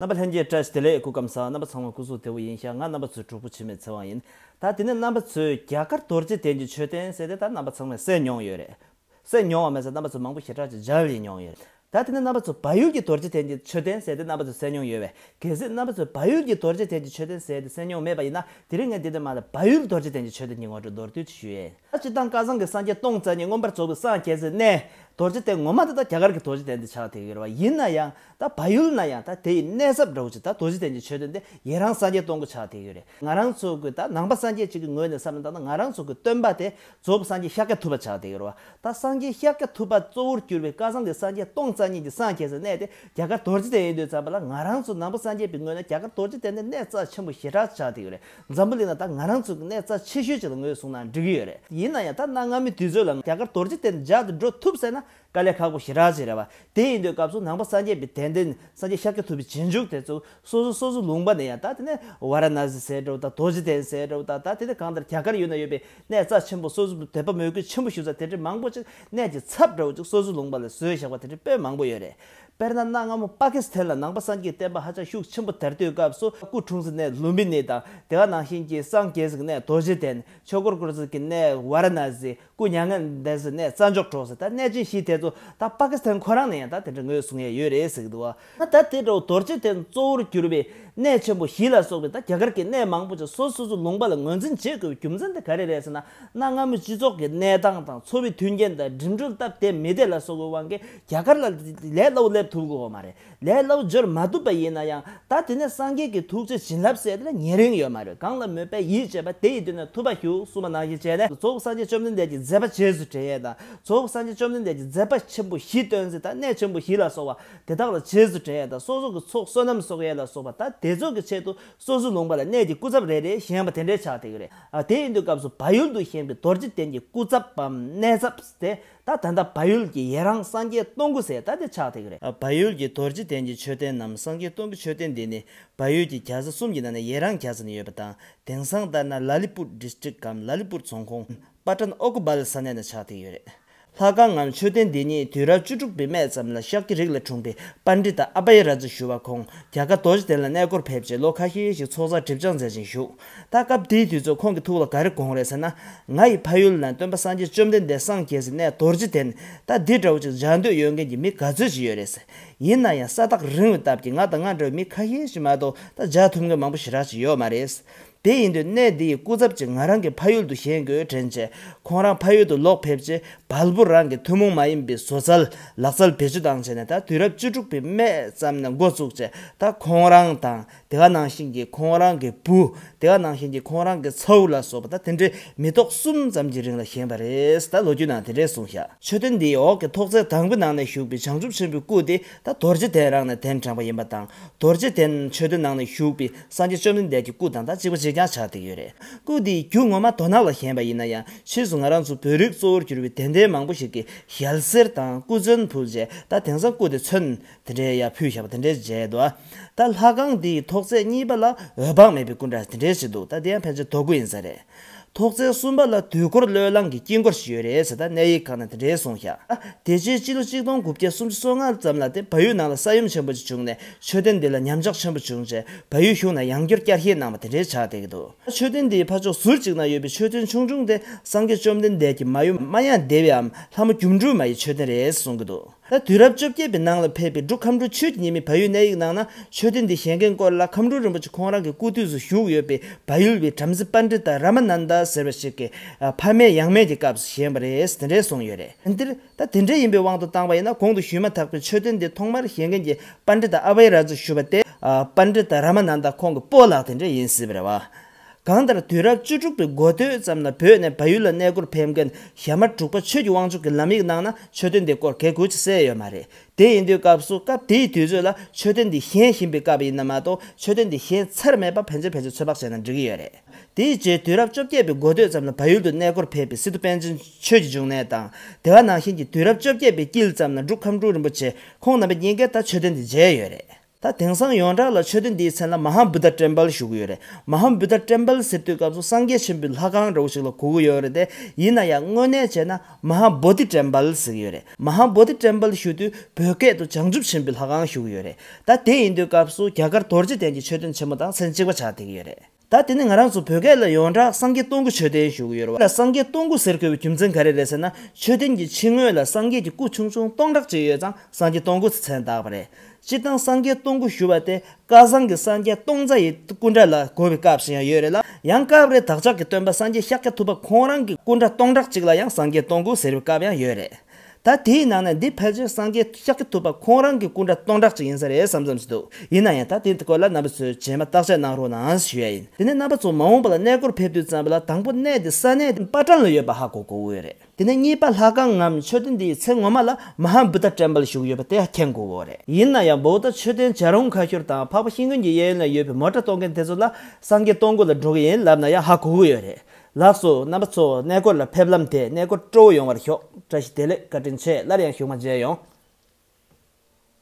རྣམ་པ་ལྷན་སྐྱེས་བཀྲ་ཤིས་བདེ་ལེགས་སྐུ་སྐམ་ས་རྣམ་པ་ཚང་མ་སྐུ་གཟུགས་དེ་བོ་ཡིན་ཤག་ང་རྣམ་པ་ཚོའི་གྲོགས་པོ་འཆི་མེད་ཚེ་དབང་ཡིན་ད་དེ་ནས་རྣམ་པ་ཚོས་རྒྱ་གར་རྡོ་རྗེ་གདན་གྱི་མཆོད་རྟེན་གསལ་དེ་ད་རྣམ་པ་ཚང་མས་གསལ་མྱོང་ཡོད་རེད་གསལ་མྱོང་བ་མེད་ས་རྣམ་པ་ཚོ་མང་པོ་ཞེ་དྲག་ཅིག་འཇལ་ཡི་མྱོང་ཡོད་ད་དེ་ནས་རྣམ་པ་ཚོ་བལ་ཡུལ་གྱི་རྡོ་རྗེ་གདན་གྱི་མཆོད་རྟེན་གསལ་དེ་རྣམ་པ་ཚོས་གསལ་མྱོང་ཡོད་བས་གལ་སྲིད་རྣམ་པ་ཚོས་བལ་ཡུལ་གྱི་རྡོ་རྗེ་གདན་གྱི་མཆོད་རྟེན་གསལ་དེ་གསལ་མྱོང་མེད་པ་ཡིན་ན་དེ་རིང་ངས་འདི་ནས་མ་ལ་བལ་ཡུལ་རྡོ་རྗེ་གདན་གྱི་མཆོད་རྟེན་གྱི་ངོ་སྤྲོད་མདོར་བསྡུས་ཅིག་ཞུ་ཡས། ད་སྤྱིར་བཏང་སྐལ་བཟང་གི་སངས་རྒྱས་སྟོང་རྩ་གཉིས་མངོན་པར་རྫོགས་པའི་སངས་རྒྱས་ཟེར་ནས། རྡོ་རྗེ་སྟེ་ངོ་མ་འདི་ད་རྒྱ་གར་གྱི་རྡོ་རྗེ་གདན་དུ་ཆགས་དེ་ཡོད་རེད་བ། ཡིན་ན་ཡང་ད་བལ་ཡུལ་ན་ཡང་ད་དེ་ཡི་གནས་སྐབས་འདྲ་བོ་ཅིག་ད་རྡོ་རྗེ་གདན་གྱི་ཆོས་སྟོན་ཏེ་ཡི་རང་སངས་རྒྱས་སྟོང་གི་ཆགས་དེ་ཡོད་རེད། ང་རང་ཚོ་གི་ད་ནང་པ་སངས་རྒྱས་ཅིག་གི་ངོས་ནས་བསམ་ན་ད་ད་ང་རང་ཚོ་གི་སྟོན་པ་དེ་རྫོགས་པའི་སངས་རྒྱས་ཤཱཀྱ་ཐུབ་པ་ཆགས་དེ་ཡོད་རེད་བ། ད་སངས་རྒྱས་ཤཱཀྱ་ཐུབ་པ་གཙོ་བོར་གྱུར་བའི་སྐལ་བཟང་གི་སངས་རྒྱས་སྟོང་རྩ་གཉིས་ཀྱི་སངས་རྒྱས་ཟེར་གནས་དེ་རྒྱ་གར་རྡོ་རྗེ་གདན་ཡིན་དུས་བརྩམས་པ་ལ་ང་རང་ཚོ་ནང་པ་སངས་རྒྱས་པའི་ངོས་ན་རྒྱ་གར་རྡོ་རྗེ་གདན་དེ་གནས་རྩ་ཆེན་པོ་ཞེ་དྲག་ཆགས་དེ་ཡོད་རེད། འཛམ་བུ་གླིང་ན་ད་ང་རང་ཚོ་གི་གནས་རྩ་ཆེ་ཤོས་ཅིག་ལ་ངོས་བཟུང་ན་འགྲིག་གི་ཡོད་རེད་ཡིན་ན་ཡང་ད་གནའ་སྔ་མོའི་དུས་ཚོད་ལ་རྒྱ་གར་དོར་རྗེས་དེར་འཇགས་ཏེ་འགྲོ་ཐུབ་ཟེར་ན་དཀའ་ལས་ཁག་པོ་ཞིག་རག་ཅིག་རེད་བ། དེ་ཡིན་དུས་སྐབས་སུ་ནང་པ་སངས་རྒྱས་པའི་དད་ལྡན་སངས་རྒྱས་ཤཱཀྱ་ཐུབ་པའི་རྗེས་འཇུག་དེ་ཚོ་སོ་སོ་སོ་སོའི་ལུང་པ་ནས་ཡང་ད་དེ་ནས་བཱ་ར་ན་སི་ཟེར་འགྲོ་བ་དང་དོར་རྗེས་དེ་ཟེར་འགྲོ་བ་དང་ད་དེ་ནས་གང་ལྟར་རྒྱ་གར་ཡུལ་ན་ཡོད་པའི་གནས་རྩ་ཆེན་པོ་སོ་སོ་དེ་དཔའ་མོས་གུས་ཆེན་པོ་ཞུ་ས་དེ་འདྲའི་མང་པོ་ཅིག་གནས་ཀྱི་ཚབ་འདྲ་བོ་ཅིག་སོ་སོའི་ལུང་པ་ལ་བཟོས་བཞག་པ་དེ་འདྲའི་དཔེ་མང་པོ་ཡོད་རེད། དཔེར་ན་གནའ་སྔ་མོ་པཱ་ཀི་སི་ཐན་ལ་ནང་པ་སངས་རྒྱས་བསྟན་པ་ཧ་ཅང་ཤུགས་ཆེན་པོ་དར་དུས་སྐབས་སུ་སྐུ་འཁྲུངས་ཟིན་གནས་ལུམ་པི་ནི་དང་དེ་ག་ནང་བཞིན་གྱི་སངས་རྒྱས་ཟིན་གནས་རྡོ་རྗེ་གདན་ཆོས་འཁོར་བསྐོར་ཟིན་གྱི་གནས་བཱ་ར་ན་སི་སྐུ་མྱ་ངན་ལྡན་ཟིན་གནས་རྩ་འཇོག་གྲོགས་ཟིན་ད་གནས་ཅན་བཞི་དེ་ཚོ་ད་པཱ་ཀི་སི་ཐན་ཁོ་རང་ནས་ཡང་ད་དེ་འདྲ་ངོས་བཟུང་ཡས་ཡོད་རེད་ཟེར་གྱི་འདུག་ང་ད་དེ་འདྲ་བོ་རྡོ་རྗེ་གདན་གཙོ་བོར་གྱུར་པའི་གནས་ཆེན་པོ་བཞི་ལ་སོགས་པའི་ད་རྒྱ་གར་གྱི་གནས་མང་པོ་ཅིག་སོ་སོ་སོའི་ལུང་པ་ལ་ངོས་འཛིན་བྱེད་དགོས་པའི་རྒྱུ་མཚན་དེ་ག་རེ་རེད་ཟེར་ན་གནའ་སྔ་མོའི་སྤྱི་ཚོགས་ཀྱི་གནས་སྟངས་དང་འཚོ་བའི་མཐུན་རྐྱེན་དང་འགྲིམ་འགྲུལ་སྟབས་བདེ་མི་བདེ་ལ་སོགས་པའི་དབང་གིས་རྒྱ་གར་ལ་ལས་སླ་བོ་སླེབས་ཐུབ་དགོས་བ་མ་རེད། ལས་སླ་བོ་འབྱོར་མ་ཐུབ་པ་ཡིན་ན་ཡང་ད་དེ་ནས་སངས་རྒྱས་ཀྱི་ཐུགས་རྗེ་བྱིན་རླབས་སད་ལ་ཉེ་རིང་ཡོད་མ་རེད་གང་ལ་མོས་པས་ཡིད་ཆེས་པ་དེ་ཡི་དུས་ན་ཐུབ་པ་ཞུ་གསུངས་པ་ནང་བཞིན་བྱས་ནས་རྫོགས་སྐུ་སངས་རྒྱས་བཅོམ་ལྡན་འདས་ཀྱི་མཛད་པ་རྗེས་སུ་དྲན་ཡས་དང་རྫོགས་སྐུ་སངས་རྒྱས་བཅོམ་ལྡན་འདས་ཀྱི་མཛད་པ་ཆེན་པོ་བཞི་སྟོན་མཛད་དང་གནས་ཆེན་པོ་བཞི་ལ་སོགས་པ་དེ་དག་ལ་རྗེས་སུ་དྲན་ཡས་དང་སོ་སོ་གི་ཚོགས་བསོད་ནམས་གསོག་ཡས་ལ་སོགས་པ་ད་དེ་ཚོགས་ཀྱི་ཆེད་དུ་སོ་སོའི་ལུང་པ་ལ་གནས་ཀྱི་སྐུ་ཚབ་རེ་རེ་བཞེངས་པ་དེ་འདྲའི་ཕྱག་ཐེག་རེད། དེ་ཡིན་དུས་སྐབས་སུ་བ་ཡུལ་དུ་བཞེངས་པའི་རྡོ་རྗེ་གདན་གྱི་སྐུ་ཚབ་བམ་གནས་ཚབ་དེ་ད་ད་ད་བལ་ཡུལ་གྱི་ཡེ་རང་སངས་རྒྱས་སྟོང་སྐུ་ཟེར་ད་དེ་ཆགས་ཐིག་རེད། བལ་ཡུལ་གྱི་རྡོ་རྗེ་གདན་གྱི་མཆོད་རྟེན་ནམ་སངས་རྒྱས་སྟོང་གི་མཆོད་རྟེན་འདི་ནི་བལ་ཡུལ་གྱི་གྱ་ས་གསུམ་གྱི་ནང་ནས་ཡེ་རང་གྱ་ས་ནས་ཡོད་པ་དང་དེང་སང་ལྟར་ན་ལ་ལི་པུར District གམ་ལ་ལི་པུར་རྫོང་ཁོངས་པཱ་ཀྲན་ཨོ་ཀུ་བལ་ས་གནས་ནང་ཆགས་ཐིག་ཡོད་རེད། ལྷ་ཁང་ངམ་མཆོད་རྟེན་འདི་ཉིད་དུས་རབས་བཅུ་དྲུག་པའི་སྨད་ཙམ་ལ་ཤཱཀྱ་རིགས་ལས་འཁྲུངས་པའི་པཱ་འདྲི་ཏཱ་ཨ་པ་ཡེ་ར་ཛི་ཞུ་བ་ཁོང་གྱ་ག་རྡོ་རྗེ་གདན་ལ་གནས་སྐོར་ཕེབས་རྗེས་ལོ་ཁ་ཤས་ཤིག་ཚོགས་བསགས་སྒྲིབ་སྦྱངས་མཛད་ཅིང་བཞུགས། ད་སྐབས་དེའི་དུས་ཚོད་ཁོང་གི་ཐུགས་ལ་ག་རེ་དགོངས་རེད་ཟེར་ན། ང་ཡི་ཕ་ཡུལ་ན་སྟོན་པ་སངས་རྒྱས་བཅོམ་ལྡན་འདས་སངས་རྒྱས་ཟེར་ནས་རྡོ་རྗེ་དེ་ནི་ད་འདི་འདྲ་བོ་ཅིག་འཇགས་འདོད་ཡོད་མཁན་གྱི་མི་ག་ཚོད་ཅིག་ཡོད་རེད་ཟེར། ཡིན་ན་ཡང་ས་ཐག་རིང་བའི་སྟབས་ཀྱིས་ང་དང་ང་འདྲ་བའི་མི་ཁ་ཤས་ཤིག་མ་གཏོགས་ད་འཇགས་ཐུབ་མཁན་མང་པོ་ཞེ་དྲག་ཅིག་ཡོད་མ་རེད། དེ་ཡིན་དུས་གནས་འདི་ཡི་སྐུ་ཚབ་ཅིག་ང་རང་གི་ཕ་ཡུལ་དུ་བཞེངས་དགོས་དྲན་རྗེས་ཁོང་རང་ཕ་ཡུལ་དུ་ལོག་ཕེབས་རྗེས་བལ་བོ་རང་གི་ཐུན་མོང་མ་ཡིན་པའི་བཟོ་རྩལ་ལག་རྩལ་བེད་སྤྱོད་དང་བཅས་ནས་ད་དུས་རབས་བཅུ་དྲུག་པའི་སྨད་ཙམ་ནས་འགོ་བཙུགས་རྗེས་ད་ཁོང་རང་དང་དེ་བ་ནང་བཞིན་གྱི་ཁོང་རང་གི་བུ། དེ་བ་ནང་བཞིན་གྱི་ཁོང་རང་གི་ཚའུ་ལ་སོགས་པ་དང་དེ་འདྲའི་མི་ཐོག་གསུམ་ཙམ་གྱི་རིང་ལ་བཞེངས་པ་རེད་ད་ལོ་རྒྱུས་ནང་དེ་འདྲའི་གསུང་བཞག། མཆོད་རྟེན་འདིའི་འོག་གི་ཐོག་རྩེག་དང་པོའི་ནང་ནས་བཞུགས་པའི་བྱང་ཆུབ་ཆེན་པོའི་སྐུ་དེ་ད་རྡོ་རྗེ་གདན་རང་ནས་གདན་དྲངས་པ་ཡིན་པ་དང་རྡོ་རྗེ་གདན་མཆོད་རྟེན་ནང་ནས་བཞུགས་པའི་སངས་རྒྱས་བཅོམ་ལྡན་འདས་ཀྱི་སྐུ་དང་ད་གཅིག་པ་གཅིག་རྐྱང་ཆགས་བསྡད་ཀྱི་ཡོད་རེད། སྐུ་འདི་རྒྱུ་ངོ་མ་རྡོ་ནག་ལ་བཞེངས་པ་ཡིན་ན་ཡང་ཕྱིས་སུ་ང་རང་ཚོ་བོད་རིགས་གཙོ་བོར་གྱུར་བའི་དད་ལྡན་མང་པོ་ཞིག་གིས་ཞལ་གསེར་དང་སྐུ་མཚོན་ཕུལ་རྗེས་ད་དེང་སང་སྐུ་དེ་མཚོན་དེ་འདྲའི་ཡ་ཕུད་ཞབས་དེ་འདྲའི་བརྗེད་དོ། ད་ལྷ་ཁང་འདི་ཡི་ཐོག་རྩེག་གཉིས་པ་ལ་འོད་དཔག་མེད་པའི་སྐུ་འདྲ་དེ་འདྲའི་ཞིག་འདུག་ད་དེ་ཡང་ཕལ་ཆེར་དོ་སྐུ་ཡིན་ས་རེད། ཐོག་རྩེག་གསུམ་པ་ལ་དུས་འཁོར་བློས་བསླངས་ཀྱི་དཀྱིལ་འཁོར་ཞིག་ཡོད་རེད་ཟེར་ད་གནས་ཡིག་ཁག་ན་དེ་འདྲའི་གསུངས་ཤག་དེ་རྗེས་སྤྱི་ལོ་གཅིག་སྟོང་དགུ་བརྒྱ་སུམ་ཅུ་སོ་ལྔ་ཙམ་ལ་དེ་བལ་ཡུལ་ནང་ལ་ས་ཡོམ་ཆེན་པོ་ཅིག་བྱུང་ནས་མཆོད་རྟེན་འདི་ལ་ཉམས་ཆག་ཆེན་པོ་བྱུང་རྗེས་བལ་ཡུལ་གཞུང་ནས་ཡང་སྐྱོར་བསྐྱར་བཤེར་གནང་བ་དེ་འདྲའི་ཆགས་བསྡད་ཀྱི་འདུག་མཆོད་རྟེན་འདིའི་ཕ་ཕྱོགས་ཟུར་གཅིག་ན་ཡོད་པའི་མཆོད་རྟེན་ཆུང་ཆུང་དེ་སངས་རྒྱས་བཅོམ་ལྡན་འདས་ཀྱི་མ་ཡུམ་མ་ཡང་ལྡེ་བའམ་ལྷ་མོ་སྒྱུ་འཕྲུལ་མ་ཡི་མཆོད་རྟེན་རེད་གསུངས་ཀྱི་འདུག། ད་དུས་རབས་བཅོ་བརྒྱད་པའི་ནང་ལ་ཕེབས་པའི་འབྲུག་ཁམས་འབྲུག་ཆུའི་ཉེ་མི་བལ་ཡུལ་གནས་ཡིག་ནང་ན་ཆོས་སྡེ་འདི་བཞེངས་མཁན་སྐོར་ལ་ཁམས་འབྲུག་རིན་པོ་ཆེ་ཁོང་རང་གི་སྐུ་དུས་སུ་བཞུགས་ཡོད་པའི་བལ་ཡུལ་བའི་བྲམ་ཟེ་པཱན་ཀྲི་ཏཱ་ར་མ་ནན་དཱ་ཟེར་བ་ཞིག་གི་ཕ་མེས་ཡང་མེས་ཀྱི་སྐབས་སུ་བཞེངས་པ་རེད་དེ་འདྲའི་གསུངས་ཡོད་རེད། འདིར་ད་དེ་འདྲའི་ཡིན་པའི་དབང་དུ་བཏང་བ་ཡིན་ན་གོང་དུ་ཞུས་མ་ཐག་པའི་ཆོས་སྡེ་འདི་ཐོག་མར་བཞེངས་མཁན་གྱི་པཱན་ཀྲི་ཏཱ་ཨ་བྷའི་ར་རྫུ་ཞུ་བ་སྟེ་པཱན་ཀྲི་ཏཱ་ར་མ་ནན་དཱ་ཁོང་གི་སྤོ་ལགས་དེ་འདྲ་ཡིན་སྲིད་པ་རེད་བ། གང་ལྟར་དུས་རབས་བཅུ་དྲུག་པའི་འགོ་སྟོད་ཙམ་ན་བོད་ནས་བལ་ཡུལ་ལ་གནས་སྒོར་ཕེབས་མཁན་ཞྭ་དམར་དྲུག་པ་ཆོས་ཀྱི་དབང་ཕྱུག་གི་ལམ་ཡིག་ནང་ན་མཆོད་རྟེན་དེ་སྐོར་གལ་གུད་ཅིག་གསལ་ཡོད་མ་རེད། དེ་ཡིན་དུས་སྐབས་སུ་སྐབས་དེའི་དུས་ཚོད་ལ་མཆོད་རྟེན་འདི་བཞེངས་བཞིན་པའི་སྐབས་ཡིན་ན་མ་གཏོགས་མཆོད་རྟེན་འདི་བཞེངས་ཚར་མེད་པ་ཕལ་ཆེར་ཕལ་ཆེར་ཚོད་དཔག་བྱས་ན་འགྲིག་གི་ཡོད་རེད། དེའི་རྗེས་དུས་རབས་བཅོ་བརྒྱད་པའི་འགོ་སྟོད་ཙམ་ན་བལ་ཡུལ་དུ་གནས་སྒོར་ཕེབས་པའི་སི་ཏུ་པཎ་ཆེན་ཆོས་ཀྱི་འབྱུང་གནས་དང། དེ་བ་ནང་བཞིན་གྱི་དུས་རབས་བཅོ་བརྒྱད་པའི་དཀྱིལ་ཙམ་ན་འབྲུག་ཁམས་སྤྲུལ་རིན་པོ་ཆེ་ཁོང་རྣམ་པའི་རྙེད་འགན་ལྟར་མཆོད་རྟེན་འདི་མཇལ་ཡོད་རེད། ད་དེང་སང་ཡོངས་གྲགས་ལ་ཆོས་སྡེ་འདིའི་མཚན་ལ་མ་ཧཱ་བུད་དྷ་ཏྲེམ་པལ་ཞུ་གི་ཡོད་རེད། མ་ཧཱ་བུད་དྷ་ཏྲེམ་པལ་ཟེར་དུས་སྐབས་སུ་སངས་རྒྱས་ཆེན་པོའི་ལྷ་ཁང་འདྲ་བོ་ཞིག་ལ་གོ་གི་ཡོད་རེད་དེ། ཡིན་ན་ཡང་དངོས་གནས་བྱས་ན་མ་ཧཱ་བོ་དྷི་ཏྲེམ་པལ་ཟེར་གི་ཡོད་རེད། མ་ཧཱ་བོ་དྷི་ཏྲེམ་པལ་ཞུ་དུས་བོད་སྐད་དུ་བྱང་ཆུབ་ཆེན་པོའི་ལྷ་ཁང་ཞུ་གི་ཡོད་རེད། ད་དེ་ཡིན་དུས་སྐབས་སུ་རྒྱ་གར་དོར་རྗེ་གདན་གྱི་མཆོད་རྟེན་ཆེན་མོ་དང་མཚན་གཅིག་པ་ཆགས་བསྡད་ཀྱི་ཡོད་རེད། ད་དེ་ནི་ང་རང་ཚོ་བོད་སྐད་ལ་ཡོངས་གྲགས་སངས་རྒྱས་སྟོང་སྐུ་ཆོས་ལྡན་ཞུ་གི་ཡོད་རེད་བ། ལ་སངས་རྒྱས་སྟོང་སྐུ་ཟེར་དགོས་པའི་རྒྱུ་མཚན་ག་རེ་རེད་ཟེར་ན་ཆོས་ལྡན་གྱི་ཕྱི་ངོས་ལ་སངས་རྒྱས་ཀྱི་སྐུ་ཆུང་ཆུང་སྟོང་ཕྲག་གཅིག་ཡོད་ཙང་སངས་རྒྱས་སྟོང་སྐུ་ཚེ་ཚན་བཏགས་པ་རེད། སྤྱིར་བཏང་སངས་རྒྱས་སྟོང་སྐུ་ཞུ་བ་དེ་བསྐལ་བཟང་གི་སངས་རྒྱས་སྟོང་རྩ་ཡི་སྐུ་འདྲ་ལ་གོ་བའི་སྐབས་སུ་ཡང་ཡོད་རེད་ལ་ཡང་སྐབས་རེ་བདག་ཅག་གི་སྟོན་པ་སངས་རྒྱས་ཤཱཀྱ་ཐུབ་པ་ཁོང་རང་གི་སྐུ་འདྲ་སྟོང་ཕྲག་གཅིག་ལ་ཡང་སངས་རྒྱས་སྟོང་སྐུ་ཟེར་བའི་སྐབས་ཡང་ཡོད་རེད། ད་དེའི་ནང་ནས་འདི་ཕལ་ཆེར་སངས་རྒྱས་ཤཱ་ཀྱ་ཐུབ་པ་ཁོང་རང་གི་སྐུ་འདྲ་སྟོང་ཕྲག་ཅིག་ཡིན་ས་རེད་བསམ་བསམ་བྱེད་འདུག་ཡིན་ན་ཡང་ད་དེའི་སྐོར་ལ་རྣམ་པ་ཚོས་རྗེས་མ་བརྟག་དཔྱད་གནང་རོགས་གནང་ཞུ་ཡ་ཡིན་དེ་ནས་རྣམ་པ་ཚོ་མ་འོངས་པ་ལ་གནས་སྐོར་ཕེབས་དུས་ཙམ་པོ་ལ་དང་པོ་གནས་འདི་ས་གནས་དེ་པ་ཀྲང་ལ་ཡོད་པ་ཧ་གོ་གོ་འོས་རེད་དེ་ནས་གཉིས་པ་ལྷ་ཁང་ངམ་མཆོད་རྟེན་འདིའི་ཚེ་ངོ་མ་ལ་མ་ཧཱ་བུ་ད་བྲན་པ་ལ་བཞུགས་ཡོད་པ་དེ་ཧ་མཁྱེན་གོ་འོས་རེད་ཡིན་ན་ཡང་བོའུ་ད་མཆོད་རྟེན་བྱ་རུང་ཁ་ཤོར་དང་འཕགས་པ་ཤིང་ཀུན་གྱི་གཡས་གཡོན་ལ་ཡོད་པའི་མོ་ཏྲ་གཏོང་མཁན་དེ་ཚོ་ལ་སངས་རྒྱས་སྟོང་སྐུ་ལ་འགྲོ་གི་ཡིན་ལབ་ན་ཡང་ཧ་གོ་གི་ཡོད་རེད་ལགས་སོ་རྣམ་པ་ཚོ་གནས་སྐོར་ལ་ཕེབས་ལམ་དེ་གནས་སྐོར་སྤྲོ་བོ་ཡོང་བར་ཤོག་བཀྲ་ཤིས་བདེ་ལེགས་བཀའ་དྲིན་ཆེ་སླར་ཡང་ཞུགས་མ་མཇལ་ཡོང།